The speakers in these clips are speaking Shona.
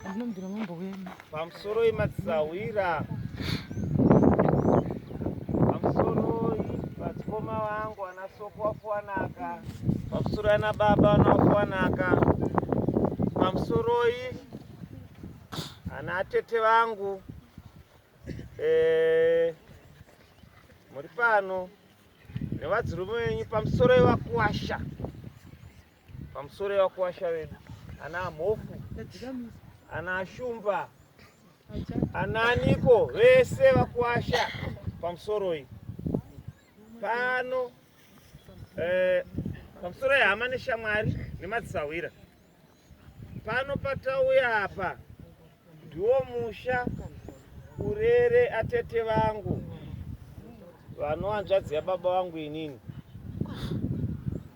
Ndinombira mambo wema. Pamusoro yematsisahwira. Pamusoro vadzikoma vangu ana soko wafuwanaka. Pamusoro ana baba ana wafuwanaka. Pamusoroi ana atete vangu. Eh, muri pano nevadzirume venyu pamusoro yevakuwasha. Pamusoro yevakuwasha vedu ana amhofu ana ashumba ananiko vese vakuwasha pamusoroi pano eh, pamusoro yehama neshamwari nemadzisahwira pano patauya apa Ndiwo musha urere atete vangu vanohanzvadzi yababa vangu inini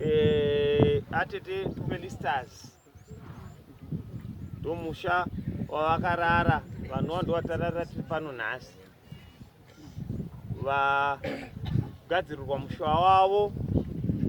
e, atete Felisters ndomusha wavakarara vanova ndovatarara tiri pano nhasi vagadzirirwa mushuwa wavo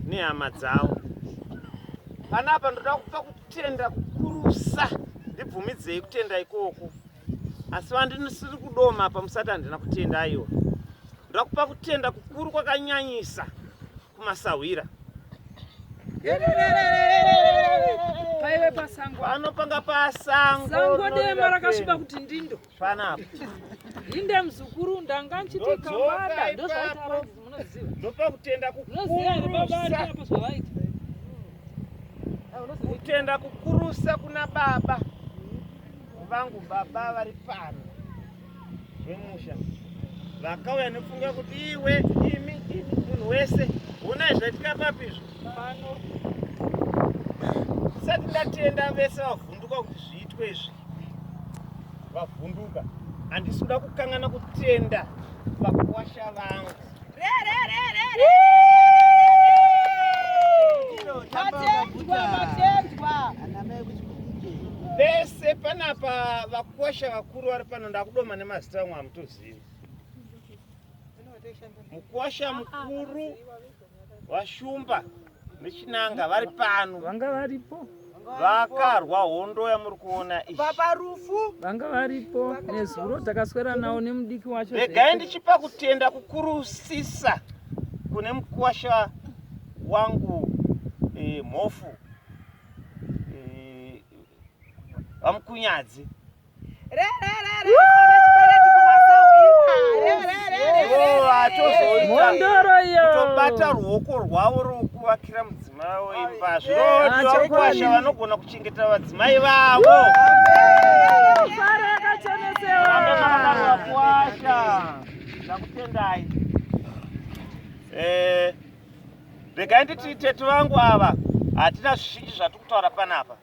nehama dzavo panapa ndoda kupa kutenda kukurusa ndibvumidzei kutenda ikoko asi vandisiri kudoma apa musati handina kutenda aiwa ndoda kupa kutenda kukuru kwakanyanyisa kumasahwira paive pasango pano panga pasango sango dema rakasviba kuti ndindo panapa inde mzukuru ndanga nchiti kamada ndozvaita rozi munoziva ndopa kutenda kukurusa kutenda kukurusa kuna baba vangu baba vari pano zvemusha vakauya nefunga kuti iwe imi imi munhu wese onai zvaitika papi izvo pano ndisati ndatenda vese vavhunduka kuti zviitwe izvi vavhunduka handisi kuda kukangana kutenda vakuwasha vangu vese panapa vakuwasha vakuru vari pano ndakudoma nemazita amwe hamutozivi mukuwasha mukuru Vashumba nechinanga vari pano. Vanga varipo. Vakarwa hondo yamuri kuona iyi. Baba Rufu. Vanga varipo nezuro takaswera nawo nemudiki wacho. Regai ndichipa kutenda kukurusisa kune mukuwasha wangu eh, mhofu eh, vamukunyadzi kutobata ruoko rwavo rwokuvakira mudzimai wavo imba zvirovakuwasha vanogona kuchengeta vadzimai vavo ndakutendai eh, regai nditi tete vangu ava hatina zvizhinji zvatiri kutaura panapa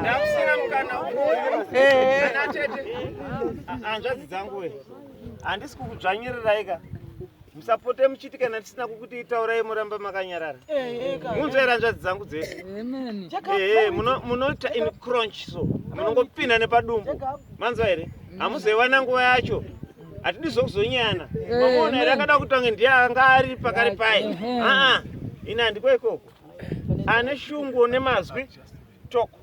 ndakusina mukana anatete hanzvadzi dzangu we handisi kukudzvanyiriraika musapote muchiti kana tisina kukuti itaurai moramba makanyarara munzwa here hanzvadzi dzangu dzese ehe munoita in crunch so munongopinda nepadumbu manzwa here hamuzoiwana nguva yacho hatidi zvokuzonyana mamuona here akada kutange ndiye anga ari pakari paye aa ini handiko ikoko ane shungu nemazwi toko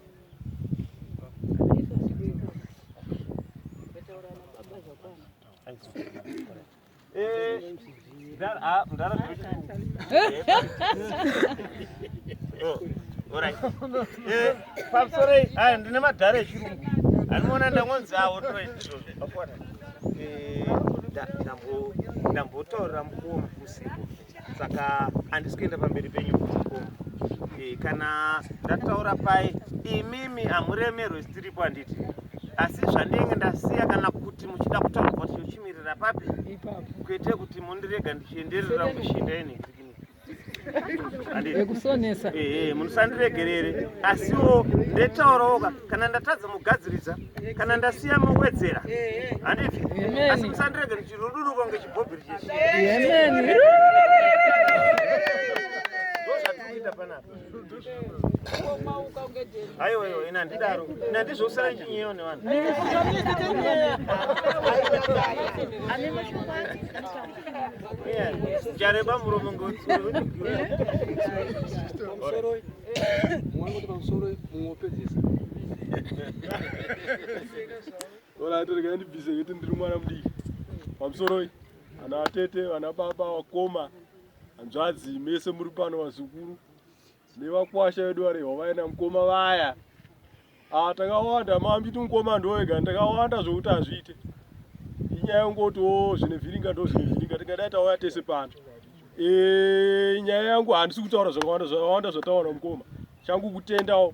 pamusorei aya ndine madhara echirungu anoona ndangonzi awo ndambotaurira mukuru mukusiku saka handisi kuenda pamberi penyu kuko e, eh, kana ndataura pai imimi hamuremerwe sitiripo handiti asi zvandinenge ndasiya kana kuti muchida kutaura kuti ndochimirira papi kwete kuti mundirega ndichienderera kushinda ini ekusonesa ehe eh, eh, munosandiregerere asiwo ndetaurawo ka kana ndatadza mugadziridza kana ndasiya mowedzera handifi asi musandirege ndichiruduruko ngechibhobhiri chechi ndozvatikuita panapa aiwa iwa ina ndidaro ina ndizvousana ndichinyeyo nevanhu Jareba muromo ngozi. Pamusoro. Mwangu pamusoro muopedzesa. Ola torega ndi busy kuti ndiri mwana mudiki. Pamusoro ana atete, ana baba, wakoma. Anzvadzi mese muri pano vazukuru. Nevakwasha vedu vari hwavaina mkoma vaya. Ah, takawanda mambiti mukoma ndoega ndakawanda zvokuti hazviite inyaya yongotiwo zvine vhiringa ndo zvine vhiringa tingadai tauya tese pano eh, nyaya yangu handisi kutaura zvakawanda zvakawanda zvataona mukoma changu kutendawo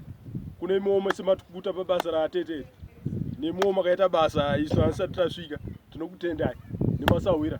kune imwewo mese matikuta pabasa raatete nemwewo makaita basa isu hanisati tasvika tinokutendai nemasahwira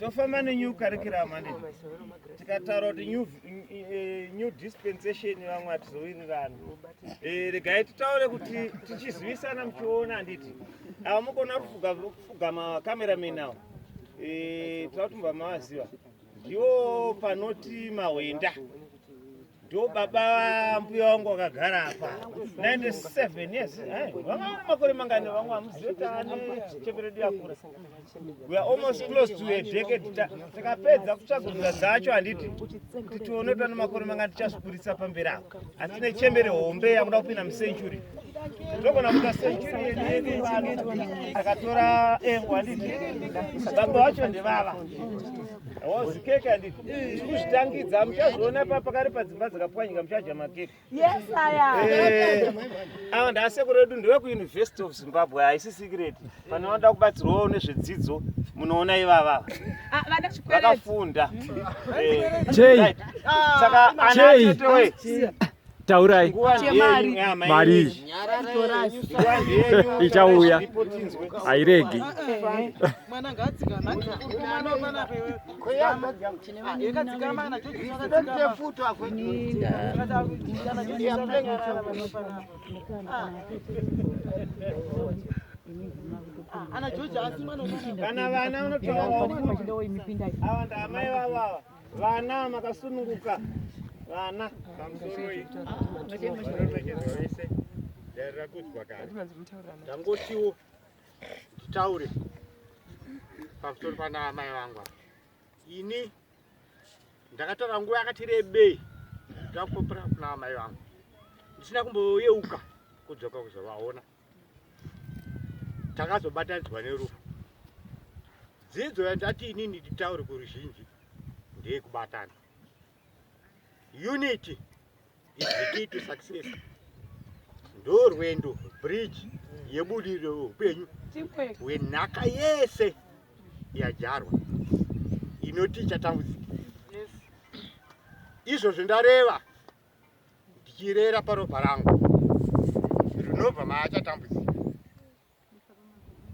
tofamba nenew curriculum handiti tikataura kuti new, eh, new dispensation vamwe hatizowirirana eh, regai titaure kuti tichizivisana muchiona handiti ava mukona kufuga macameraman awo eh, tava kuti mubva mavaziva ndiwo panoti mahwenda ndo baba mbuya wangu wakagara apa 97 yes eh, vanga vane makore mangani vamwe vamuziva ane cheperedu yakura we are almost close to a decade tikapedza kutsvaguruza dzacho handiti kuti tione kuti ane makore mangani tichazvikuritsa pamberi apo asi tine chembere hombe yakuda kupinda mucentury togona kuita century yedu akatora engo handiti baba vacho ndevava Wazi keke anditi kuzvitangidza muchazoona pa pakari padzimba dzakapwanyika muchadya makeke. Yes aya. Eh, Ava ndaasekuru edu ndewe kuUniversity of Zimbabwe haisi secret. Kana wanoda kubatsirwawo nezvedzidzo munoona ivava Ah, vana chikwereti. vakafunda. Eh, Chei? right. Saka ana Chei? atete wee. taurai mari ichauya hairegi kana vana vanotoawa ndamai vavava Vana makasununguka. Vana pamusoroi. Vanoremekedzwa vese. Darira kudzwa kare. Ndangotiwo nditaure pamusoro pana amai vangu. Ini ndakatora nguva yakati rebei ndakupopera kuna amai vangu. Ndisina kumboyeuka kudzoka kuzovaona. takazobatanidzwa nerufu dzidzo yandati inini nditaure kuruzhinji ndeyekubatana unity is the key to success ndorwendo bridge yebudiriro yeupenyu hwenhaka yese yajarwa inoti ichatambudzika izvozvo ndareva ndichirera paropa rangu rinobva maachatambudzika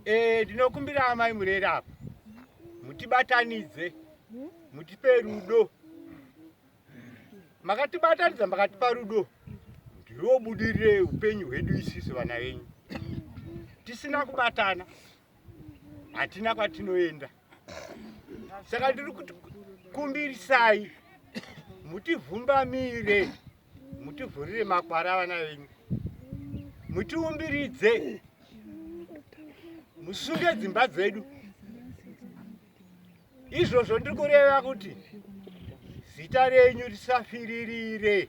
ee eh, ndinokumbira amai murere apa mutibatanidze mutipe rudo makatibatanidza makatipa rudo ndiwo budirire upenyu hwedu isisu vana venyu tisina kubatana hatina kwatinoenda saka ndiri kuti kumbirisai mutivhumbamire mutivhurire makwara avana venyu mutiumbiridze musunge dzimba dzedu izvozvo ndiri kureva kuti zita renyu risafiririre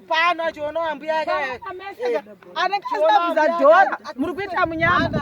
pano achionawo ambuya ake eh, anenge asina kuzadhora muri kuita munyama